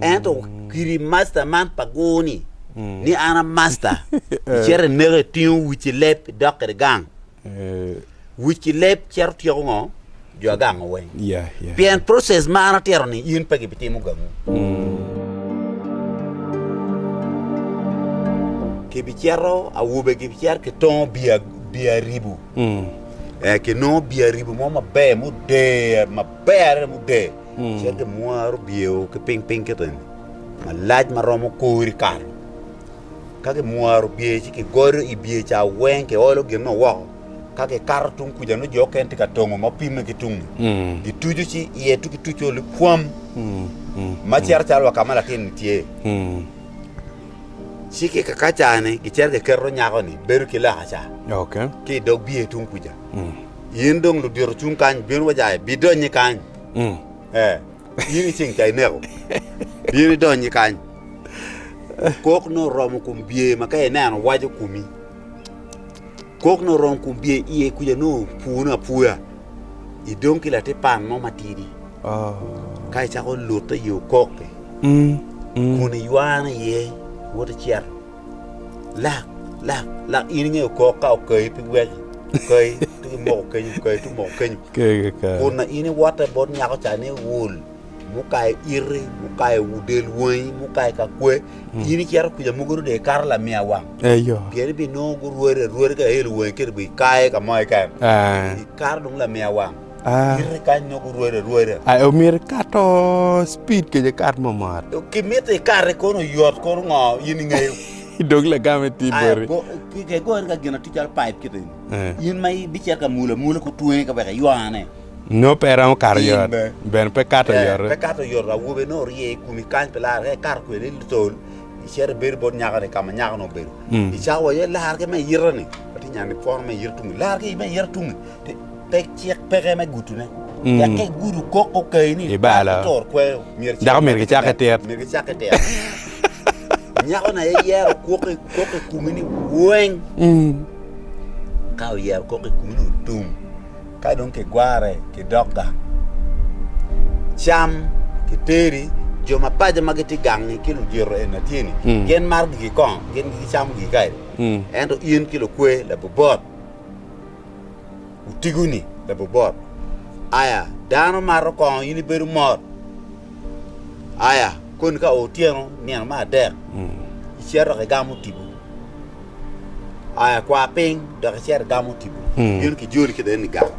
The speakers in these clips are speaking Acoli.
Ento kiri masta man pa gur-ni ni an a masta, icito ineko, itingo wic ki leb, idok kwede gang. Wic ki leb cito tyeko ngo? Jo agango weng. Pien process ma an atito-ni in pe gibitimo gangu. Kibicito, awobe gibicito ki tongo bii aribu. Kinongo bii aribu mo maber, muder, maber adada muder. Cente mwaro byeo ki piny piny kito eni malac ma romo kori kare ka ki mwaro bye ci ki godo i bye ca weng ki olo gin nongo woko ka ki kato tung kuca nongo jo mukene tye ka tongo ma pimme ki tung ni gi tucu ci iye tung ki tucu ni pwam ma cito calo wa ka ma latin ni tye ci ki ka cani gi cito ki keto nyako ni bedo ki loka ca ki i dog bye tung kuca In dong ludito cung kany, bin wa ca ibidonyi kany. Mm. Eh, in iceng ca ineko. Bin idonyi kany. Kok no romo kum bye ma ka ineno waco kumi. Kok no romo kum bye iye kuja no punu apuya. Idong ki lati pan mo matidi. Oh. Ka icako lute yo kok-ki. Mm. Mm. Kun iywane iye woto cito. Lak, lak, lak in inge okok ka okayi pi gwec okayi tuk imoko kenyo okayi tuk moko kenyo kun na in iwote bot nyako ca ni iwul mukayo iti mukayo del wangi mukayo ka kwe in icito kuca mogo ni dong ikato lamiya wang pien ibinongo gurwari arwari ka i elo wangi kiti bene ikayo ka mo keken ikato dong lamiya wang Ah. Kite kany nongo gurwado arwada. Ai omyero ikato speed kece kat mo mot. Kimito ikate kono oyot kono ngo in ingeyo. Dog lagame ti Ai, boti. go- ki- ke gore ka gin atir calo pipe kite ni. Eh. In ma ibicito ka mula mula ku twenge ka weka iywane. No pe romo kato In yot. be. Bene pe kato Eh, yot. Pe kato yot awobe no orye i kumi kany pe lar ka ikato kwede i tol icito ibedo bot nyakani ka ma nyakani obedo. Mm. Icawa iye lar ki me yita ni. Ati nyani pwono me yita tungi. Lar ki me yita tungi. Ti- pe cik peke me gutune. Mm. Dok ka igudo kok okayi ni Ibalo. dako toro kweyo, myero cik Dako myero peke kicakke tit. tit. Myero kicakke tit. Nyako na iyero kok i kok i kumi ni weng. Mm. Ka oyero kok i kumi ni otum. Ka dong kigware kidok gang. Cam kiteri jo ma paco ma gitye gangi ki lujito en na tye ni Mm. gin maro gigi kong gin gicamo gigi kadi. Mm. Ento in ki lukwe labobot Otigo ni, Labobot, aya, dano mato kongo in ibedo mot. Aya, koni ka otyeno nino me adek, icito dok igamo tipo. Aya, kwa piny dok icit igamo tipo. Bino ki joli kede ni gang.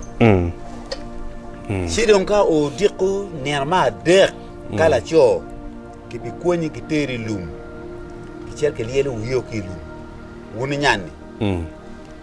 Ci dong ka odiko nino me adek, ka laco, kibikwonyi giteri i lum, gicito gilyelo wiyo ki i lum, wun inyanni.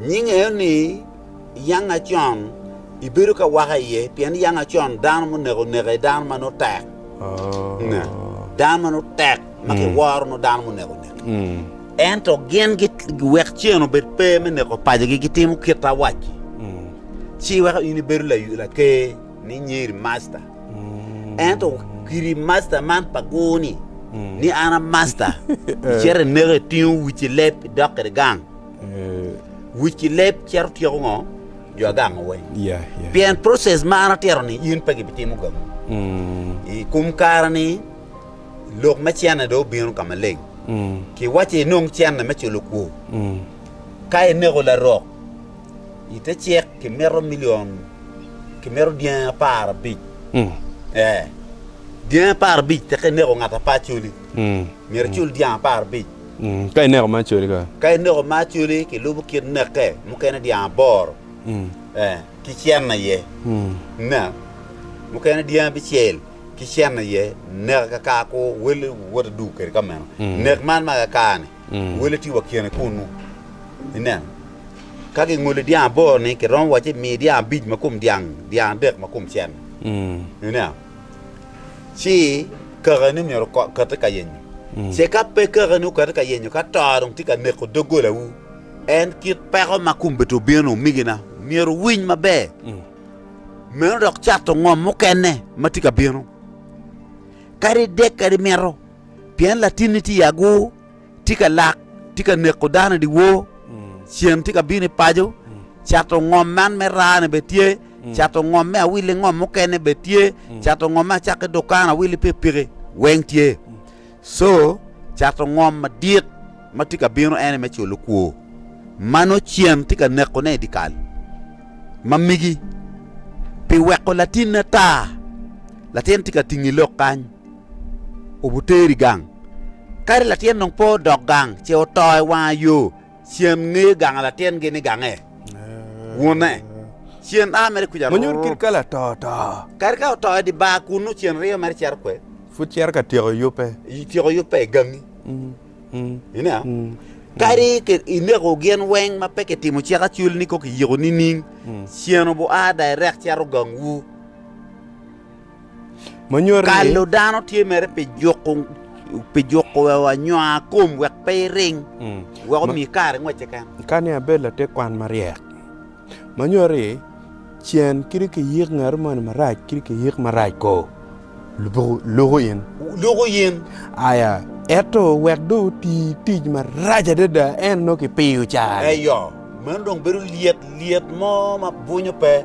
Nyinge aye ni Yanga Acon ibedo ka waka iye pien Yanga Acon dano muneko neko aye dano ma nongo tek. Dano ma nongo tek ma kiworo nongo dano muneko neko. Ento gin wek cen obed pe me neko pacigi gitimo kit awacci ci weko in ibedo laker ni Nyeri Masta. Ento kiri Masta man pa gur ni ni an a Masta icito ineko itingo uci leb idok kwede gang. Wic ki leb cito tyeko ngo? Jo agango weng. Yeah, yeah. Pien process ma an atito ni in pe gibitimo gamu. Mm. I kum kare ni lok me cene do obino ka maleng. Mm. Ki wace inong cene me culo kwo. Mm. Ka ineko larok ite cek ki mito milion ki mito dyangi apar abic. Mm. Eh. Dyangi apar abic teke ineko ngat apar culi. Mm. Miro cul dyang apar abic. Ka ineko ma acoli ka. Ka ineko ma acoli ki lubo kit neke mukene dyang aboro eh ki cen aye ne mukene dyang abicel ki cen aye neke ka kar ku wele woti duk kede ka meno nek man ma ka kar ni wele tye wa kene kunnu ineno ka ki ngoli dyang aboro ni ki romo waci mi dyang abic ma kom dyang dyang adek ma kom cen ineno Ci kakeni myero okati ka yenyo. Ce ka pe kakeni okati ka yenyo, ka to dong tye ka neko doggolawu, en kit peko ma kombeddi obino ni omigina myero wuwiny maber, meno dok cato ngom mukene ma tye ka bino, kadi dek kadi mito, pien latinni tye i agur. tye ka lak, tye ka neko dano i dyewor, cen tye ka bino i paco, cato ngom man me rane bene tye, cato ngom me awili ngom mukene bene tye, cato ngom me acakk ki dukan awili pikipiki weng tye. Co cato ngom madit ma tye ka bino en aye me culo kwo ma nongo cen tye ka nekone i dyekal ma migi pi weko latinne ata. Latin tye ka tingo i lok kany. obuteri gang. Kadi latin dong pe odok gang, ce oto i wanga yo, cen ngeyo ganga latin gi ni gange wune. Cen a mere kuca. Manyut kit ka lato oto. Kadi ka oto i di bar kunu, cen riyo mere cito kwe. Pud cito ka tyeko yubbe. Tyeko yubbe i gangi. Ina, kadi ineko gin weng ma pe kitimo cik acul ni kong kiyiko nining, cen obu a direct cito gang wu. ma nyuto ni. Kalo dano tye mere pi juko pi juko anywaa kom wek pe iring, wek omi kare ngwec keken. Kani abed latekwan maryek, ma nyuto ni cen kit kiyik ngat moni marac kit kiyik marac ko, lubo luko in. Luko in. Aya, ento wek dong oti tic marac adada en nongo kipiyo cari. Eyo, meno dong bedo lyet lyet mo ma bwunyo pe.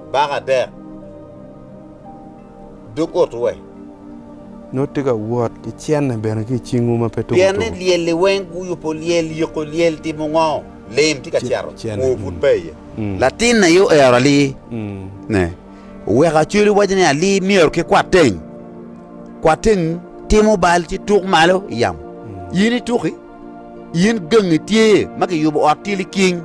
baka adek dog otu we. Nut tye ka wot ki cenne bene ki i cingwu ma pe tuko tuko. Pien ni lyelli weng guyubbo lyel, yiko lyel timo ngo? Lim tye ka cito, kwor pud pe iye. Latin na aye oero alii ne, oweko acwele waco ni alii myero ki kwat teng. Kwat teng timo bal ci tuk malo i yamo. In ituki? In gangi tye ma kiyubo ot tye liking,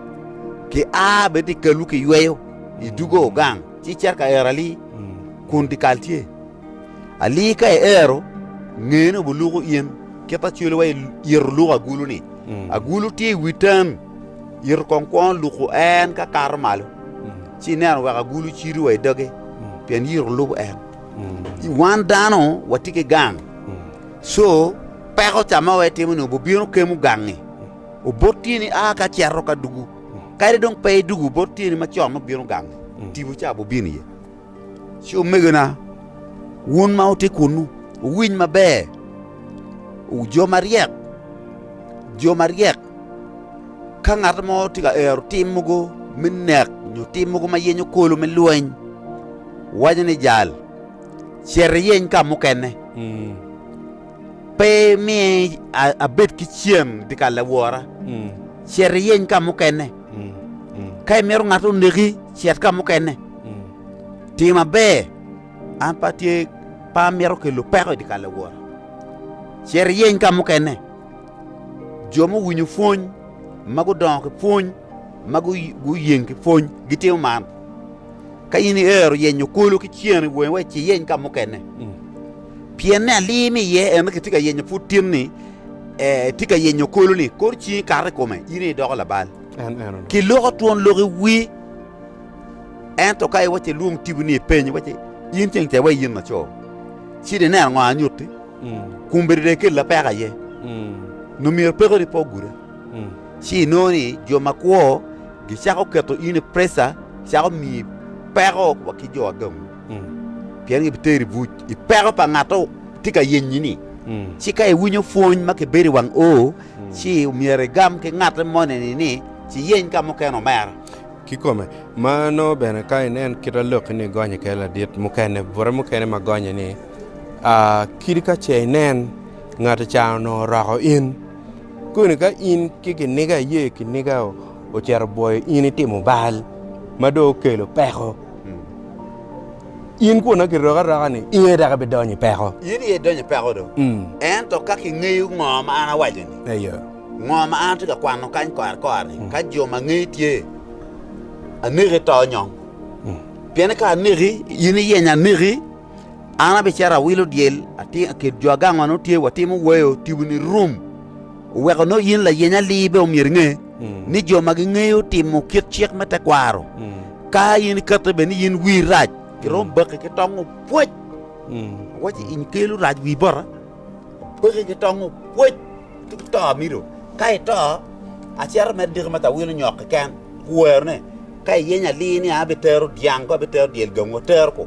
Kia bene i kalwu kiyweyo, Idugo gang ci icito ka ero ali, Kun dyekal tye. Ali ka iero, ngene obuluko in, Kit ma cwelo wa ito luko agulu-ni. Agulu tye i wi tam, Ito kong kwono luko en ka kato malo, Ci ineno wek agulu cido wa i doge, Pien ito lubo en. Wan dano watye ki gang, Co, peko ca ma waitimo-ni obobino kemo gangi, obot tyeni a ka cito ka dugu. Kadi dong pe idugu, obot tyeni macon nongo bino gangi, tipo ca bobino iye. Ci omegona, wun ma wutye kunnu, wuwiny maber, jo maryek, jo maryek, ka ngat mo tye ka ero tim mogo me nek nyo tim mogo ma yenyo kolo me lweny, waco ni, Jal, Cit iyeny ka mukene. Pe mi abed ki cen dikal awora. Cit iyeny ka mukene. Ka imito ngat oneki, cit ka mukene. Tim maber. An pe atye pe amito kelo peko i dikal awora. Cit iyeny ka mukene. Jo muwinyo pwony ma gudongo ki pwony ma guyeng ki pwony gitimo man. Ka in iero yenyo kulu ki cen i wongi, wek ci iyeny ka mukene. Pien ni alir ni iye en kitye ka yenyo pud tin ni itye ka yenyo kulu ni kor cingi kato i kome, in aye idoko labal. Ki loko twon lok i wi. Ento ka iwaco ilwong tibu ni ipeny, iwaco in ceng ca iwaco in laco, cit ineno ngo anyutti, kombeddi dong ikel lapek aye, nyo myero pekoni pe oguda. ci inongo ni jo makwo gicako keto in i preca, cako miyi peko wa ki jo agangu, pien gibiteri i buc i peko pa ngat ma tye ka yenyi-ni. Ci ka iwinyo pwony ma kibedo i wang O, ci myero igam ki ngatte moni-ni ni, ci yeny ka mukene omera. Kikome, ma nongo bene ka inen kit a Lokki-ni gonye kede ladit mukene, bute mukene ma gonye ni, Kadi ka ce inen, ngat-ti ca onongo oroko in. Koni ka in ki kiniga iye kiniga ocito bwoyo in itimo bal ma dong okelo peko, in kwona kiroki aroka ni in aye dok ibidonyo i peko. In aye idonyo i peko do. Mm. Ento ka kingeyo ngo ma an awaco-ni, Eyo. ngo ma an atye ka kwano kany kore kore-ni, Mm. ka jo ma ngeye tye, aneki to nyong. Mm. Pien ka aneki, in iyenyo aneki, An abicito awilo dyel atir akit jo agang ma nongo tye watimo weyo tiboni rum, oweko nongo in layeny alir bene omyero inge ni jo ma gingeyo timo kit cik me tekwaro, ka in iketo bene ni in wiri rac, giromo baki ki tongo pwec. Awaco in ikelo rac wii bota, baki ki tongo pwec ci to amido. Ka ito, acito mere diki ma awilo nyok keken, kuwero ne, ka iyenyo alir ni an abitero dyang ko abitero dyel gangu atero ko.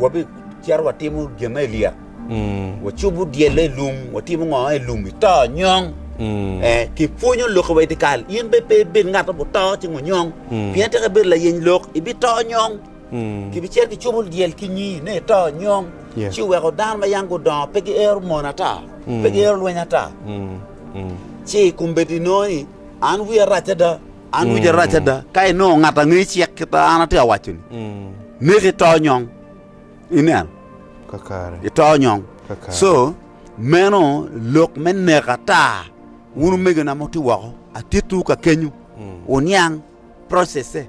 wabicito watimo gin ma Elia, wacubo dyelle i lum, watimo ngo i lum, ito nyong. Eh, kipwonyo lok wa i dikal, in be pe ibed ngat ma buto ci ngo nyong, pien tek ibedo layeny lok, ibito nyong. Kibicito kicubo dyel ki nyi ne ito nyong, Yeah. ci weko dano ma yang gudongo pe giero mon ata, pe giero lweny ata. Ci kombeddi nongo ni, an wiya rac ada, An wica arac ada ka inongo ngat a ngeyo cik kita an atye ka waco-ni. Neke ito nyong. Ineno? Ito nyong. So, meno lok me neko ata. Wun omegona ma wutye woko, atittiwu ka kenyu, wuniang processe.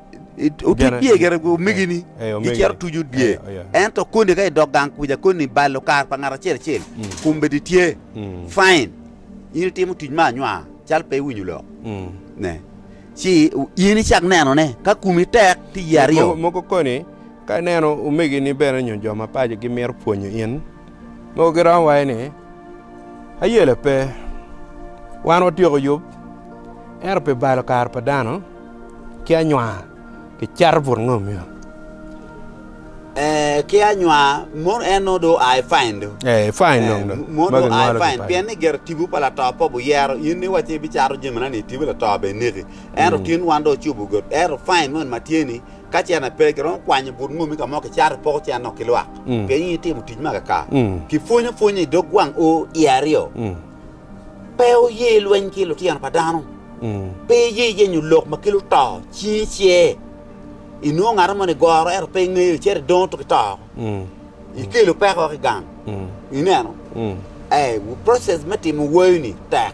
Otuc dye gire omegini gicito tuco dye. Ento koni ka idok gang kuca koni balo kar pa ngat acel acel kombedi tye fine. In itimo tuc me anywa cal pe iwinyo lok. Ne. Ci in icak neno ne ka kumi tek ti ye aryo. Moko koni ka ineno omegini bene nyo jo mapaco gimito pwonyo in mogo giromo waci ni ayele pe wan watyeko yub ento pi balo kar pa dano. Ki anywa kicato but ngo myero. Eeh ki anywa mono en nongo dong oa i fine do. Eeh i fine dong do. Mono dong oa i fine pien ni gire tibu pa lato pe buyero in ni iwaci ibi cato jami na ni tibu lato be ineki. Ento tin wan dong ocubu godi ento fine moni ma tye ni ka cene pe giromo kwanyo but ngomi ka mo kicato ipoko cene dong ki lwak pien in itimo tic ma kaka kipwonyo pwonya i dog gwang o i aryo. pe oye lweny ki lutino pa dano, pe eye yenyo lok ma kelo to cinge cer. Inwongo ngat mo ni goro ento pe ingeyo cer idongo tuki to oko. Ikelo peko ki gang. Ineno? Eh, process me timo wayo ni tek.